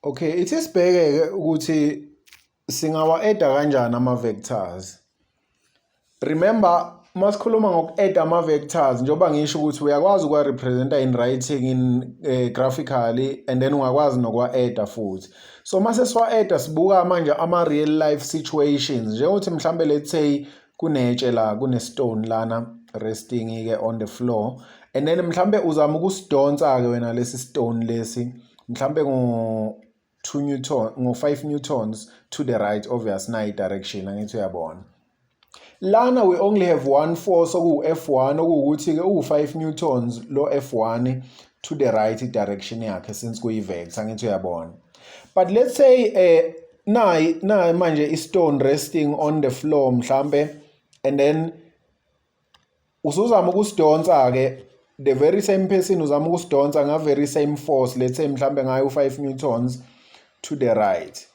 Okay, ithi sibheke-ke ukuthi singawa-eda kanjani ama-vectors. Remember uma sikhuluma ngoku-eda ama-vectors njengoba ngisho ukuthi uyakwazi ukuwa-representa in writing in uh, graphically and then ungakwazi nokuwa-eda futhi. So uma sesiwa-eda sibuka manje ama-real life situations njengokuthi mhlawumbe let's say kunetshe la kunestone lana resting ke on the floor and then mhlambe uzama ukusidonsa ke wena lesi stone lesi mhlambe ngo 2 newton ngo 5 newtons to the right obvious nayi direction angithi uyabona lana we only have one force oku F1 okuwukuthi ke uwu 5 newtons lo F1 to the right direction yakhe since kuyi vector angithi uyabona but let's say eh nayi nayi manje istone resting on the floor mhlambe and then usuzama ukusidonsa ke the very same person uzama ukusidonsa nga very same force let's say mhlambe ngayo u5 newtons to the right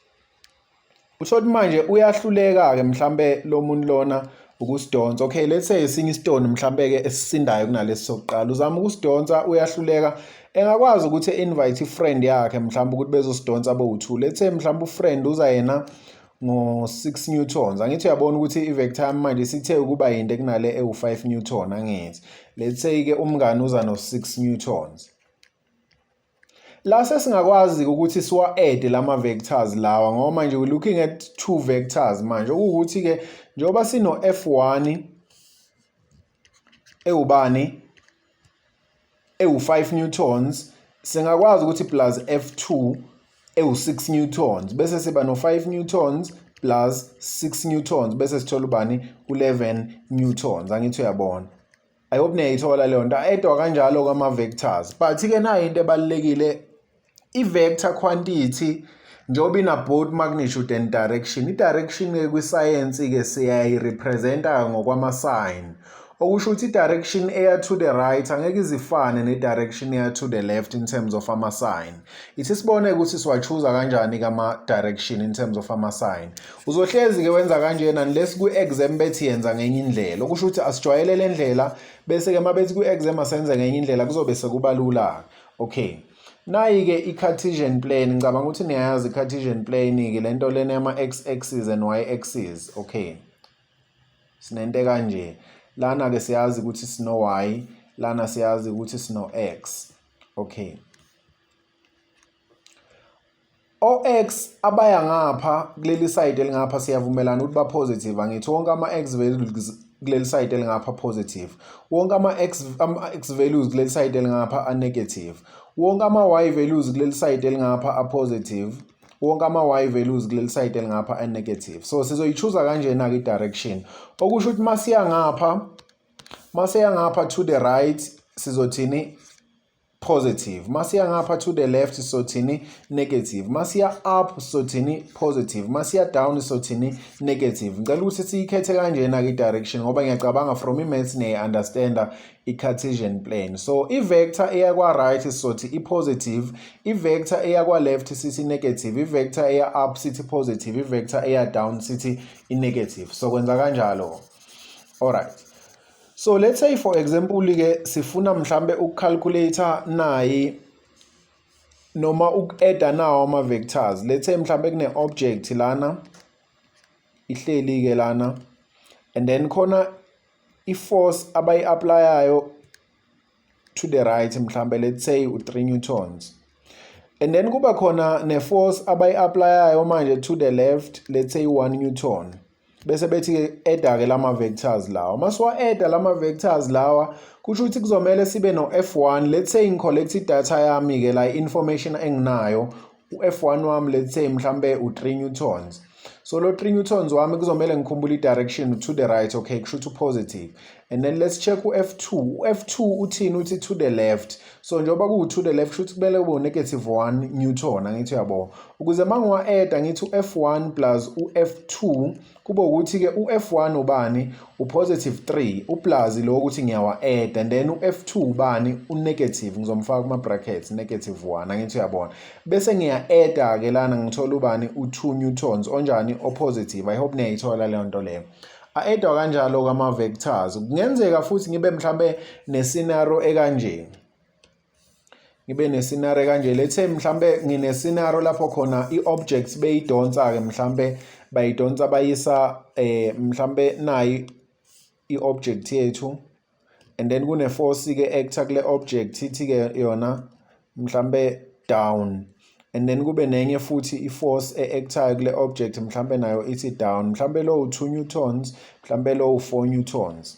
usho ukuthi manje uyahluleka ke mhlambe lo muntu lona ukusidonsa okay let's say esinye isitoni mhlambe ke esisindayo kunalesi sokuqala uzama ukusidonsa uyahluleka engakwazi ukuthi invite ifriend yakhe mhlawumbe ukuthi bezosidonsa bowu2 let's say mhlawumbe ufriend uza yena ngo-6 newtons angithi uyabona ukuthi i-vector yami manje sithe ukuba yinde kunale ewu-5 newton angithi let's say-ke umngane uza no-6 newtons La sesingakwazi ukuthi siwa-ede lama-vectors lawa ngoba manje we're looking at two vectors manje okuwukuthi-ke njengoba sino-f one ewubani ewu-five newtons singakwazi ukuthi plus f two ewu-six newtons bese siba no-five newtons plus six newtons bese sithola ubani u-eleven newtons angithi uyabona I hope niyayithola leyo nto edwa kanjalo kwama-vectors but-ke nayo into ebalulekile i-vector quantity njengoba ina-both magnitude and direction i-direction-ke kwisayensi-ke siyayirepresenta-ke ngokwama-sign okusho ukuthi i-direction eya to the right angeke izifane ne-direction eya to the left in terms of ama-sign ithi sibone ukuthi siwachuza kanjani-ke ama-direction in terms of ama-sign Uzohlezi-ke wenza kanjena unless kwi-exam bethi yenza ngenye indlela okusho ukuthi asijwayele le ndlela bese-ke uma bethi kwi-exam asenze ngenye indlela kuzobe sekuba lula-ke okay nayi-ke i-cartesian plane ngicabanga ukuthi niyayazi i-cartesian plane-ke le nto lena yama-x axis and y axis okay sinento kanje lana-ke siyazi ukuthi sino-y lana siyazi ukuthi sino-x okay O-X abaya ngapha kuleli side elingapha siyavumelana ukuthi ba-positive angithi wonke ama-X values kuleli side elingapha positive wonke ama-X ama-X values kuleli side elingapha a-negative wonke ama-Y values kuleli side elingapha a-positive wonke ama-Y values kuleli side elingapha a-negative so sizoyichuza kanjena-ke i-direction okusho ukuthi masiya ngapha masiya ngapha to the right sizothini positive masiya ngapha to the left sothini negative masiya up sothini positive masiya down sothini negative ngicela ukuthi siyikhethe kanjena ke direction ngoba ngiyacabanga from imaths ne understander i-cartesian plane so i-vector eya kwa-right sizothi i-positive i-vector eya kwa-left sithi i-negative i-vector eya up sithi positive i-vector eya down sithi i-negative so kwenza kanjalo alright So let's say for example ke sifuna mhlambe ukucalculator nayi noma uku-adda nawo ama-vectors let's say mhlambe kune-object lana ihleli ke lana and then khona i-force abayi-aplayayo to the right mhlambe let's say u-3 newtons and then kuba khona ne-force abayi-aplayayo manje to the left let's say u-1 newton bese bethi-ke eda-ke lama-vectors lawa uma siwa-eda lama-vectors lawa kusho ukuthi kuzomele sibe no-f1 let's say ngi-collect idatha yami-ke la i-information enginayo u-F one wami let's say mhlampe u-three newtons so lo three newtons wami kuzomele ngikhumbule i-direction to the right okay kusho ukuthi u-positive and then let's check u-f two u-f two uthini uthi to the left so njengoba kuwu-to the left kusho ukuthi kumele kube u-negative one newton angithi uyabo ukuze uma ngiwa-eda ngithi u-f one plus u-f two kube ukuthi-ke u-F1 ubani upositive 3 uplazi lo ukuthi ngiyawa-eda and then u-F2 ubani unegative ngizomfaka kuma-brackets negative 1 angithi uyabona bese ngiya-eda-ke lana ngithola ubani u-2 newtons onjani opositive i hope niyayithola leyo nto leyo a-edwa kanjalo-ke ama-vectors kungenzeka futhi ngibe mhlawumbe nesinaro ekanjeni ngibe nesinare kanje lethe mhlambe nginesinaro lapho khona i-objects beyidonsa-ke mhlambe bayidonsa bayisa eh mhlambe nayi i-object yethu and then kune-force-ke actor kule object ithi-ke yona mhlambe down and then kube nenye futhi i-force e-actayo kule object mhlambe nayo ithi down mhlambe lowu 2 newtons mhlambe lowu 4 newtons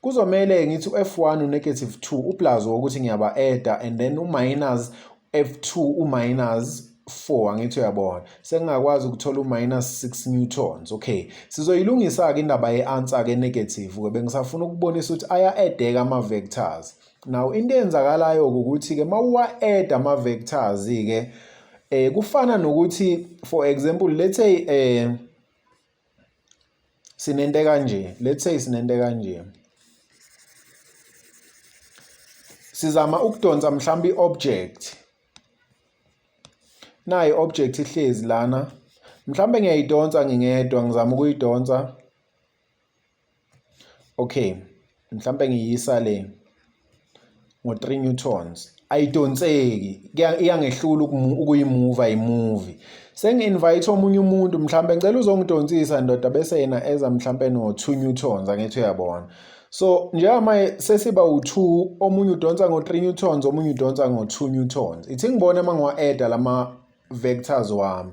Kuzomele ngithi u-F1 u-negative 2 uplazo wokuthi ngiyaba-eda and then u-minus F2 u-minus 4 angithi uyabona sengingakwazi ukuthola u-minus 6 newtons okay sizoyilungisa-ke indaba ye-answer ke negative-ke bengisafuna ukubonisa ukuthi aya-edeka ama-vectors now into eyenzakalayo-ke ukuthi-ke uma uwa-eda ama-vectors-ke um kufana nokuthi for example let's say um sinento kanje let's say sinento kanje sizama ukudonsa mhlawumbe i-object nayi object ihlezi lana mhlawumbe ngiyayidonsa ngingedwa ngizama ukuyidonsa okay mhlawumbe ngiyisa le ngo-3 newtons ayidonseki iyangehlula ukuyimuva imuvi sengi-invite omunye umuntu mhlawumbe ngicela uzongidonsisa ndoda bese yena eza mhlawumbe no-2 newtons angithi uyabona so njengamanje sesiba u-2 omunye udonsa ngo-3 newtons omunye udonsa ngo-2 newtons ithi ngibone uma ngiwa-eda lama-vectors wami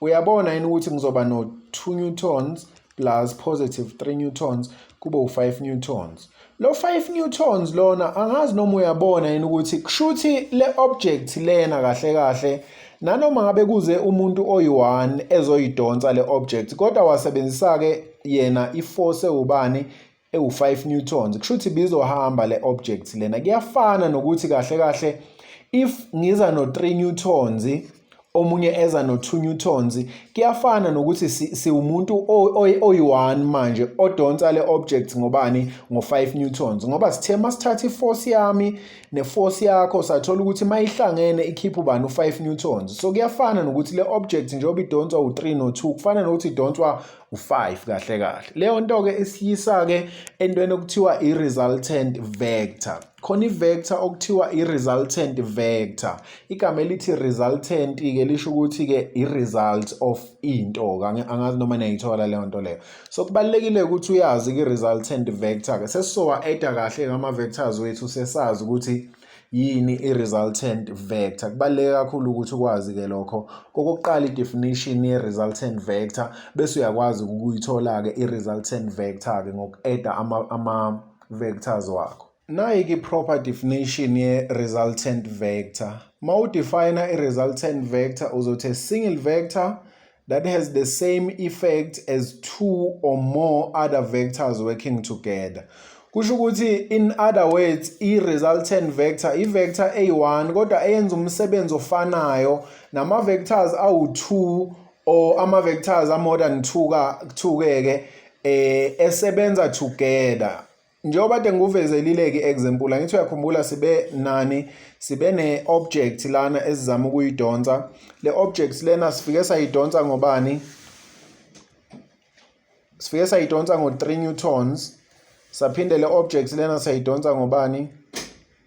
Uyabona yini ukuthi ngizoba no-2 newtons plus positive 3 newtons kube u-5 newtons. Lo 5 newtons lona angazi noma uyabona yini ukuthi kushuthi le object lena kahle kahle nanoma ngabe kuze umuntu oyi-1 ezoyidonsa le object kodwa wasebenzisa-ke yena i-force ewubani ewu-5 newtons kusho ukuthi bizohamba le object lena kuyafana nokuthi kahle kahle if ngiza no-3 newtons omunye eza no-2 newtons kuyafana nokuthi siwumuntu oyi-one manje odonsa le object ngobani ngo-5 newtons ngoba sithe uma sithatha iforce yami neforce yakho sathola ukuthi uma ihlangene ikhipha ubani u-5 newtons so kuyafana nokuthi le object njengoba idonswa u-3 no-2 kufana nokuthi idonswa u-5 kahle kahle leyo nto-ke isiyisa-ke entweni okuthiwa i-resultant vector khona i-vector okuthiwa i-resultant vector igama elithi resultant-ke lisho ukuthi-ke i-result of into angazi noma niyayithola leyo nto leyo so kubalulekile ukuthi uyazi-ke i-resultant vector-ke sesizowa-eda kahle ngama-vectors wethu sesazi ukuthi so, Yini i-resultant vector? Kubaluleke kakhulu ukuthi ukwazi-ke lokho. Okokuqala i-definition ye-resultant vector bese uyakwazi ukuyithola-ke i-resultant vector-ke ngoku-eda ama-vectors ama wakho. Nayike i-proper definition ye-resultant vector. Uma udefayina i-resultant vector uzothi a single vector that has the same effect as two or more other vectors working together kusho ukuthi in other words i-resultant vector i-vector eyi-1 kodwa eyenza umsebenzi ofanayo nama-vectors awu-2 or ama-vectors a-more than 2 ka 2 ke ke eh esebenza together njengoba kade ngikuvezelile-ke example angithi uyakhumbula sibe nani sibe ne-object lana esizama ukuyidonsa le object lena sifike sayidonsa ngobani sifike sayidonsa ngo-3 newtons saphinde le object lena sayidonsa ngobani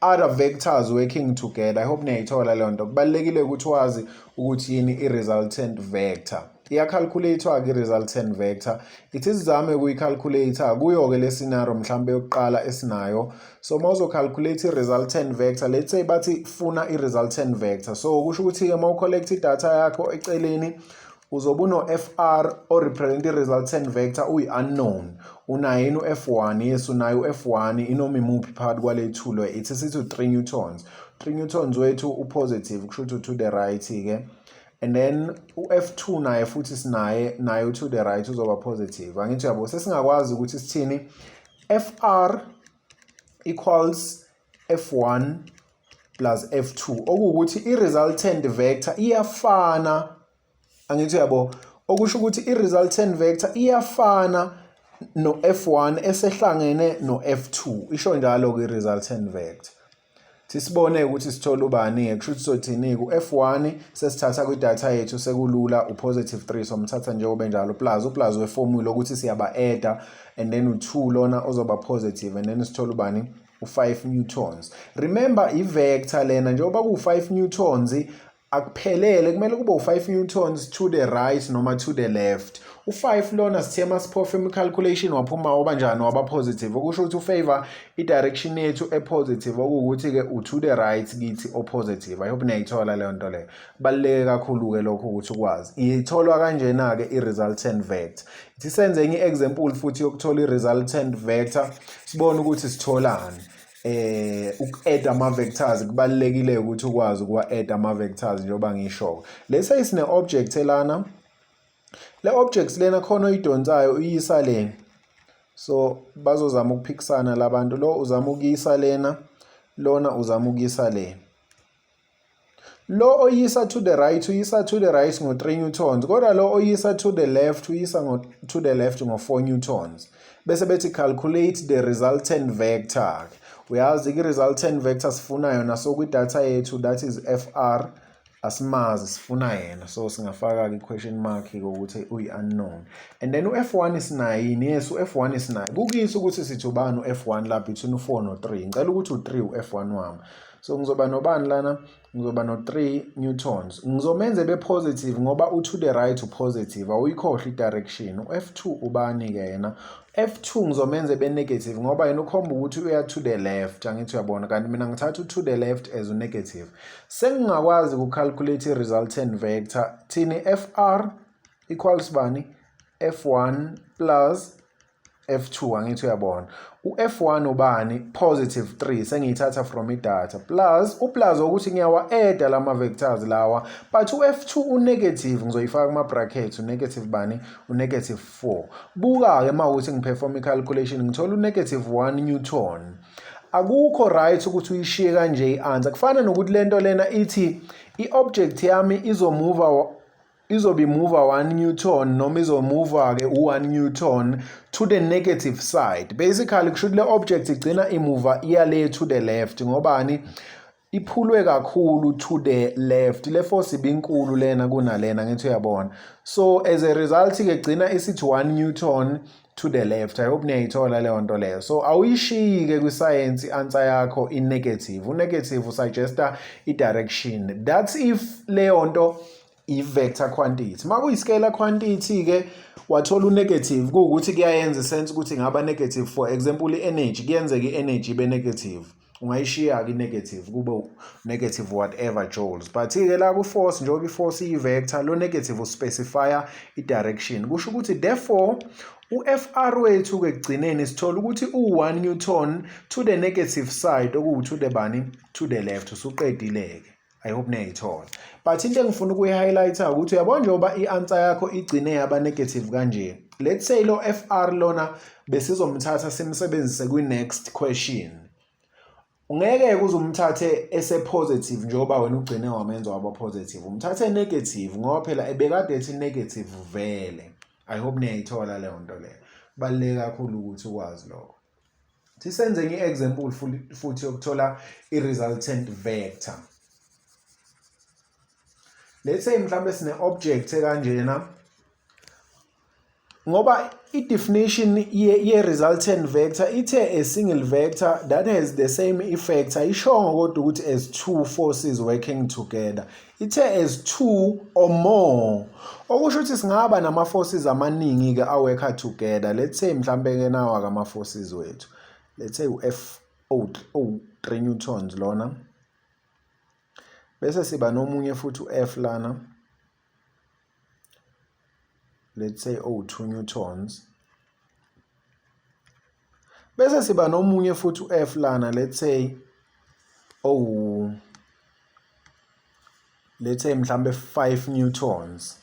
other vectors working together i hope niyayithola leyo nto kubalulekile ukuthi wazi ukuthi yini i-resultant vector iyakhalkhulathiwa-ke i-resultant vector ithi sizame ukuyikhalkhulata kuyo-ke le scenario mhlawumbe yokuqala esinayo so uma uzokhalkhulate i-resultant vector let's say bathi funa i-resultant vector so kusho ukuthi-ke uma ucollect idatha yakho eceleni uzobe uno-fr orepresent i-resultant vector uyi-unknown unayo yini u-f one yes unayo u-f one inoma imuphi phakathi kwale thulo ithi sithi u-three newtons three newtons wethu u-positive kusho ukuthi u-to the right-ke and then u-f two naye futhi sinaye naye u-to the right uzoba positive angithi yabo sesingakwazi ukuthi sithini fr equals F1 plus F2 okuwukuthi i-resultant vector iyafana angithi uyabo okusho ukuthi i-resultant vector iyafana no-F1 esehlangene no-F2 isho njalo ke resultant vector sisibone ukuthi sithola ubani kusho ukuthi sothini ku-F1 sesithatha kwidatha yethu sekulula u-positive 3 somthatha njengoba enjalo plus uplus weformula ukuthi siyaba-adda and then u-2 lona ozoba positive and then sithola ubani u-5 newtons remember i-vector lena njengoba ku-5 newtons akuphelele kumele kube u-5 newtons to the right noma to the left u-5 lona sithe masiphofa imi-calculation waphuma waba njani waba positive okusho ukuthi ufavor i-direction yethu e-positive okuwukuthi-ke u-to the right kithi o-positive i hope niyayithola leyo nto leyo kubaluleke kakhulu-ke lokho ukuthi ukwazi itholwa kanjena-ke i-resultant vector ithi senze enye i-example futhi yokuthola i-resultant vector sibone ukuthi sitholani eh uku-add ama-vectors kubalulekile ukuthi ukwazi ukuwa-add ama-vectors njengoba ngisho-ke lesa isine-object elana le object lena khona oyidonsayo uyisa le so bazozama ukuphikisana labantu lo uzama ukuyisa lena lona uzama ukuyisa lena Lo oyisa to the right uyisa to the right ngo-3 newtons kodwa lo oyisa to the left uyisa ngo, to the left ngo-4 newtons bese bethi calculate the resultant vector uyazi i-resultant vector sifuna yona so kwidatha yethu that is fr asimazi sifuna yena so singafaka-ke i-question mark kokuthi uyi-unknown and then u-f one sinayini yes u-f one sinayo kukuyisa ukuthi sithi ubani u-f one la between u-four no-three ngicela ukuthi u-three u-f one wami so ngizoba nobani lana ngizoba no-3 newtons ngizomenza ebe positive ngoba u-to the right upositive awuyikhohlwa i-direction u-f two ubani-ke yena f two ngizomenza ebe negative ngoba yena ukhomba ukuthi uya to the left angithi uyabona kanti mina ngithatha u-to the left as u-negative sengingakwazi ukucalculate i-resultant vector thini f r equals bani f one plus F2 angithi uyabona uF1 ubani positive 3 sengiyithatha from idata plus uplus ukuthi ngiyawa add lama vectors lawa but uF2 unegative ngizoyifaka kuma brackets unegative bani unegative 4 buka ke mawuthi ngiperform icalculation ngithola unegative 1 newton akukho right ukuthi uyishiye kanje i-answer kufana nokuthi lento lena ithi i-object yami izomuva izobe imuva 1 newton noma izomuva-ke u-1 newton to the negative side basically kusho ukuthi le object igcina imuva iya le to the left ngobani iphulwe kakhulu to the left le force ibinkulu lena kunalena ngithi uyabona so as a result ke gcina isithi 1 newton to the left i hope niyayithola leyo nto leyo so awuyishiyi ke kwisayensi i-answer yakho i-negative u-negative usuggesta i-direction that's if leyo nto i-vector quantity uma kuyi-scalar quantity-ke wathola u-negative kuwukuthi kuyayenza isense ukuthi ngaba negative for example i-energy kuyenzeka i-energy ibe negative ungayishiya-ke i-negative kube negative whatever joules but-ke la ku-force njengoba i-force iyi-vector lo negative uspecifya i-direction kusho ukuthi therefore u-fr wethu-ke ekugcineni sithola ukuthi u-1 newton to the negative side okuwu-to the bani to the left usuqedile-ke I hope niyayithola but into engifuna ukuyi-highlighter ukuthi uyabona njengoba i-answer yakho igcine yaba negative kanje let's say lo FR lona besizomthatha simsebenzise kwi-next question ungeke kuze umthathe ese-positive njengoba wena ugcine wamenza waba positive umthathe negative ngoba phela ebekade ethi negative vele i hope niyayithola leyo nto leyo kubaluleke kakhulu ukuthi ukwazi lokho Thi senze ngi example futhi yokuthola i resultant vector. Let's say mhlambe sine object ekanjena ngoba i definition ye, ye resultant vector ithe a single vector that has the same effect ayishongo kodwa ukuthi as two forces working together Ithe as two or more. Okusho ukuthi singaba nama forces amaningi ke aworker together. Let's say mhlambe ke nawa kama forces wethu. Let's say uF o 3 newtons lona. Bese siba nomunye futhi uF lana. Let's say o 2 newtons. Bese siba nomunye futhi u-F lana let's say owu let's say mhlambe 5 newtons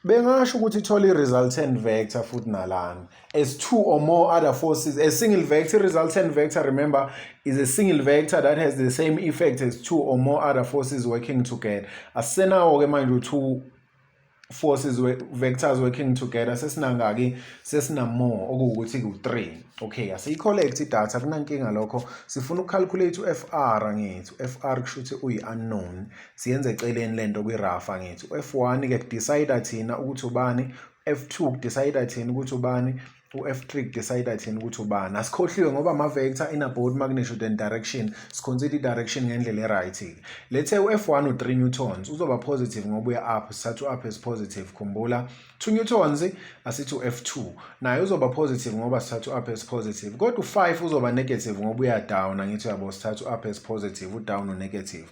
bengasho ukuthi ithola i-resultant vector futhi nalana as two or more other forces a single vector resultant vector remember is a single vector that has the same effect as two or more other forces working together asenawo ke manje u-two forces vectors working together sesinangaki sesinamore okuwukuthi ku-3 okay asiyi-collect idatha kunankinga lokho sifuna uku-calculate u-fr ngethu fr kusho ukuthi uyi-unknown siyenze eceleni lento kwiRafa ngithi u-F1 ke kudecide thina ukuthi ubani F2 kudecide thina ukuthi ubani u-F3 kudecide thina ukuthi ubani asikhohliwe ngoba ama-vector inabode magnitude and direction siconsider i-direction ngendlela e-right lethe u-F1 u-3 newtons uzoba positive ngoba uya-up sithatha u-up as positive khumbula 2 newtons asithi u-F2 naye uzoba positive ngoba sithatha u-up as positive kodwa u-5 uzoba negative ngoba uya-down angithi uyabo sithatha u-up as positive u-down u-negative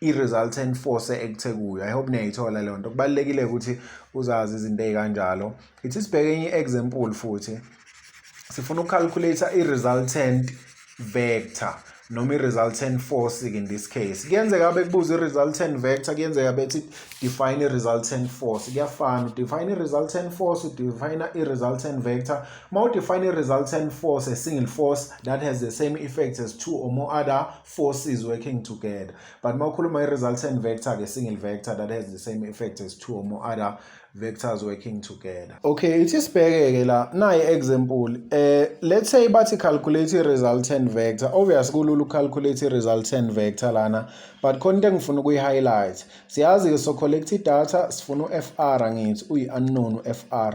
i-resultant force ekuthe kuyo i hope niyayithola leyo nto kubalulekile ukuthi uzazi izinto ey'kanjalo ithi sibheke enye i-example futhi sifuna ukucalculate i-resultant vector noma i-resultant force in this case kuyenzeka bekubuza i-resultant vector kuyenzeka bethi define i-resultant force kuyafana udefine i-resultant force udefine i-resultant vector uma udefine i-resultant force a single force that has the same effect as two or more other forces working together but uma ukhuluma i-resultant vector ke single vector that has the same effect as two or more other vectors working together okay ithi sibheke-ke la nayi example eh let's say bathi calculate i-resultant vector obvious kulula ucalculate i-resultant vector lana but khona into engifuna ukuyi-highlight siyazi-ke so collect i-data sifuna u-fr angithi uyi-unknown u-fr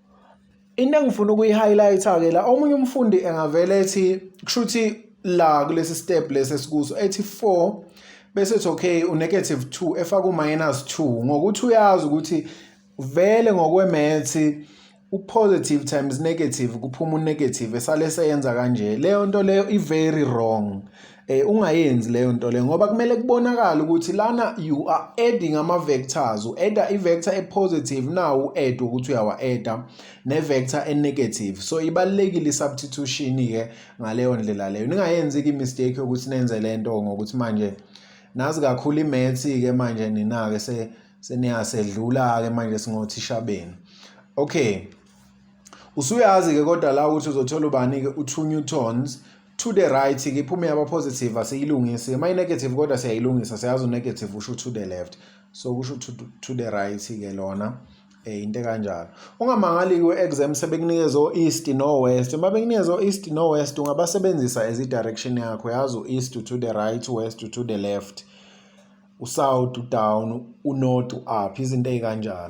into engifuna ukuyi-highlight-ke la omunye umfundi engavele ethi kusho ukuthi la kulesi step lesi esikuso ethi 4 bese ethi okay unegative 2 efaka uminus 2 ngokuthi uyazi ukuthi vele ngokwemethi upositive times negative kuphuma unegative esale seyenza kanje leyo nto leyo i-very wrong eh ungayenzi leyo nto le ngoba kumele kubonakala ukuthi lana you are adding ama vectors u add i vector e positive now u add ukuthi uyawa add ne vector e negative so ibalekile substitution ke ngaleyo ndlela leyo ningayenzi ki mistake ukuthi nenze lento ngokuthi manje nazi kakhulu imaths ke manje nina ke se seniyasedlula ke manje singothisha benu okay usuyazi ke kodwa la ukuthi uzothola ubani ke u 2 newtons to the right ke iphume yaba positive asiyilungisi uma i-negative kodwa siyayilungisa siyazi u-negative usho to the left so kusho to, to the right ke lona eh into kanjalo ungamangali kwi-exam sebekunikeza o-east no-west uma bekunikeza o-east no-west ungabasebenzisa as i-direction yakho yazi u-east to the right west to the left u-south u-down u-north u-up izinto ey'kanjalo